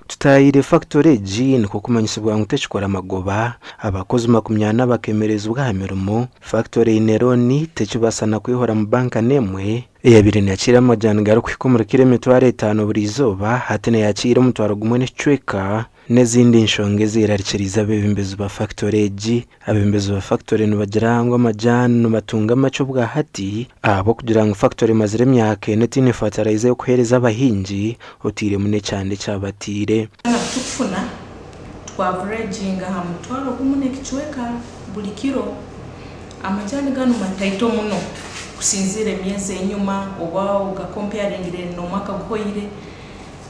Tutayaire fakitori egi nikwo kumanyisibwa ngu tekikora magoba, abakozi makumi ana bakemerezibwa aha mirimo, fakitori eine looni tekibaasa na kwehoramu banka n'emwe, eyabaire neyakiira amajaani garikuhika omuri kiro emitwaro etaano buri izooba hati neyakiira omutwaro gumwe n'ekicweka, N'ezindi nshonga ezeerarikiriize abeebembezi ba fakitore egi. Abeebembezi ba fakitore nibagira ngu amajaani nibatunga makye obwa hati ahabw'okugira ngu fakitore emazire emyaka ena etaine fataraiza y'okuheereza abahingi otairemu n'ekyanda eki abataire. Twamara kukifuna, twavureeginga aha mutwaro gumu n'ekicweka buri kiro. Amajaani ganu mataito muno kusinziira emyezi ey'enyima oba ogakompayaringire n'omwaka guhoire.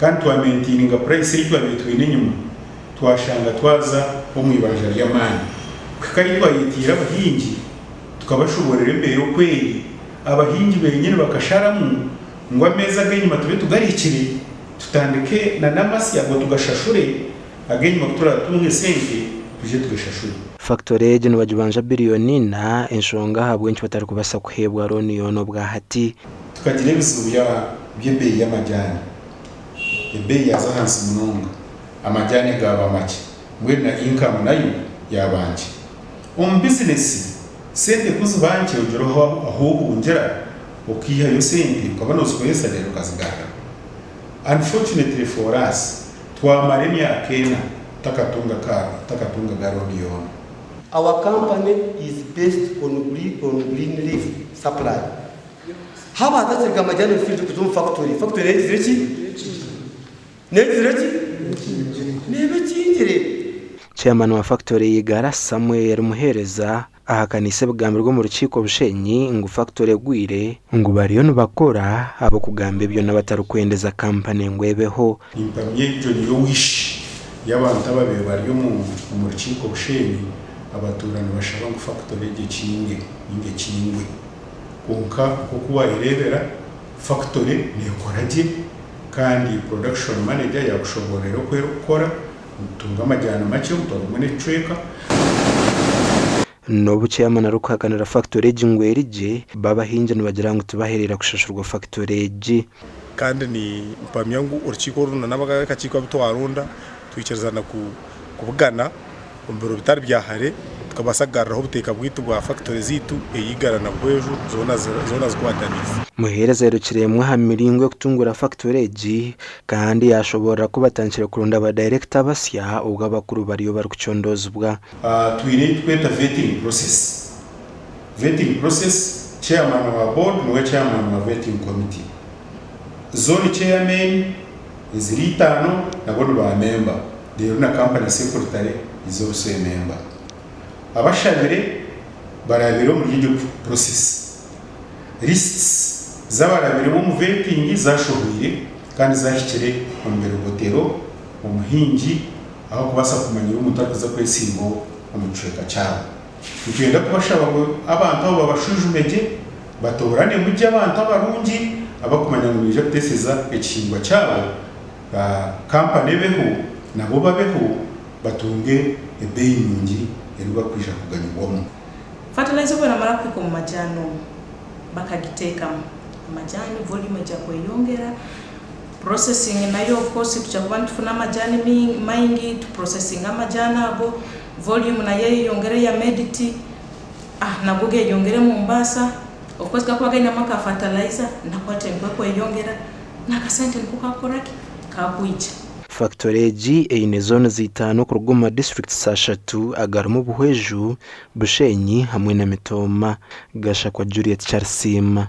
Kandi twamentiininga purayisi ei twabaire twine enyima, twashanga twaza omu ibanja ry'amaani. Kuhika ahi twayetiire abahingi tukabashoboorera embeera oku eri, abahingi beenyini bakasharamu ngu ameezi ag'enyima tube tugarikire tutandike n'amasi ago tugashashure, ag'enyima ku turaatunga esente twije tugashashure. Fakitori egi nibagibanja biriyoni ina, enshonga ahabw'enki batarikubaasa kuheebwa rooni yoona obwahati. Tukagira ebizibu bya by'ebeeyi y'amajaani. Ebeeyi yaaza ahansi munonga, amajaani gaaba makye, mbwenu na inkamu nayo yaaba nkye. Omu bizinesi, sente ku ziba nkye ogira oha ahu ohungira okaihayo sente okaba noozikoresa reero okazigarura. Unfortunately for us, twamara emyaka ena tutakatunga ka tutakatunga ga looni yoona. Our company is based on green on green leaf supply. Haba hati atsirika Majani Field kuza omu fakutori. Fakutori eyegizire ki? N'eyegizire ki? Neeba ekingire. Chairman wa fakutori ya Igara, Samuel Muheereza, ahakaniise ebigambirwe omu rukiiko Bushenyi ngu fakutori egwire, ngu bariyo nibakora ahabw'okugamba ebyo n'abatarikwendeza kampani ngu ebeho. Nimpamya egyo niyo wish y'abantu ababaire bari omu omu rukiiko Bushenyi abatuura nibashaba ngu fakutori egyo ekinge ninga ekingwe. Kwonka nk'oku waayereebera, fakitori neekora gye kandi Production Manager yaakushoboororera oku erikukora, nitutunga amajaani makye omu twarugamu n'ekicweka. N'obu Chairman arikuhakanira fakitori egi ngu eri gye, bo abahingi nibagira ngu tibahereera kushashurwa fakitori egi. Kandi ni mpamya ngu orukiiko oru na n'abakakiiko abu twaronda twikiriza na ku kubugana omu biro bitari bya hare tukabaasa kugaruraho obuteeka bwaitu bwa fakitore zaitu eri Igara na Bweju zoona zoona zikwatanise. Muheereza airukiremu aha miringo y'okutungura fakitore egi kandi yaashoboorora ku batandikire kuronda ba dayirekita basya obwo abakuru bariyo barikucondoozibwa. Twine ebi turikweta vetting process Vetting process, Chairman wa Board niwe Chairman wa Vetting Committee. Zone Chairmen eziri itaano nabo ni ba memba reero na Company Secretary niza obuswere memba. Abashabire barabire omuri egyo process. Lists z'abarabire b'omu Vetting zashohwire kandi zahikire omu birogotero, omuhingi, ahakubaasa kumanyira omuntu arikuza kwesimbaho omu kicweka kyabo. Nikyenda kubashaba ngu abantu abo babashwijumye gye, batooranemu gye abantu abarungi abakumanya ngu nibaija kuteeseza ekihingwa kyabo, ba kampani ebeho nabo babeho batunge ebeeyi nungi ei barikwija kuganyirwamu. Fatiraiza obu eramara kuhika omu majaani omu bakagiteekamu, amajaani voriumu eija kweyongera, purosesingi nayo ofukosi twija kuba nitufuna amajaani maingi, tupurosesinge amajaani ago. Volume nayo eyeyongera eya Medit a nago geyongera omu mbaasa okwezi gakuba gainemu aka fertilizer na quality ekweyongera nakasente niko kakukora ki kakwija. Factory egi eine zones itaano kuruga omu ma districts ashatu agarimu Buhweju, Bushenyi hamwe na Mitooma. Gashakwa Juliet Charisiima.